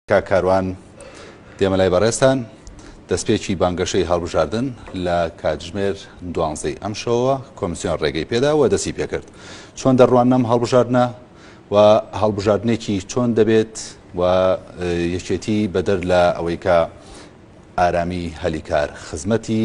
کاک کاروان دێمە لای بەڕێزتان، دەستپێکی بانگەشەی هەڵبژاردن لە کاتژمێر دوانزەی ئەمشەوە کۆمسیۆن ڕێگەی پێدا و دەستی پێکرد چۆن دەڕواننەم هەڵبژاردنە و هەڵبژاردنێکی چۆن دەبێت و یەکێتی بەدەر لە ئەوەی کە ئارامی هەلی کار خزمەتی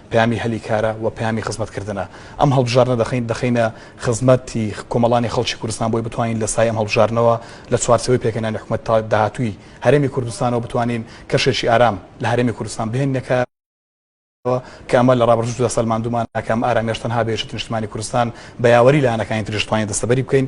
پەیامی هەلی کارە و پەیامی خزمەت کردنە. ئەم هەڵبژاردنە دەخەین دەخەینە خزمەت ی کۆمەڵانی خەڵکی کوردستان بۆی بتوانین لە سایەی ئەم هەڵبژاردنەوە لە چوارچێوەی پێکهێنانی حکومەت تا داهاتووی هەرێمی کوردستانەوە بتوانین کەشێکی ئارام لە هەرێمی کوردستان بهێنینە کایەوە کە ئەمە لە ڕابردووشدا سەلماندوومانە کە ئەم ئارامیەش تەنها بە یەکێتی نیشتمانی کوردستان بە یاوەری لایەنەکانی تریش توانین دەستەبەری بکەین.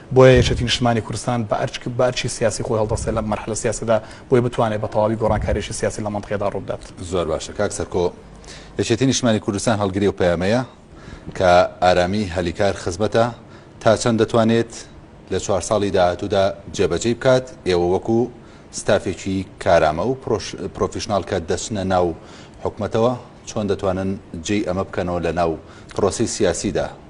بۆیە یەکێتی نیشتمانی کوردستان بە ئەرک بە ئەرکی سیاسی خۆی هەڵدەستێ لەم مەرحەلە سیاسیەدا بۆی بتوانێ بە تەواوی گۆڕانکاریەکی سیاسی لە مەنتقەیەدا ڕوو بدات. زۆر باشە کاک سەرکۆ یەکێتی نیشتمانی کوردستان هەڵگری ئەو پەیامەیە کە ئارامی هەلی کار خزمەتە تا چەند دەتوانێت لە چوار ساڵی داهاتوودا جێبەجێی بکات ئێوە وەکو ستافێکی کارامە و پرۆفیشناڵ کە دەچنە ناو حکومەتەوە چۆن دەتوانن جێی ئەمە بکەنەوە لە ناو پرۆسەی سیاسیدا؟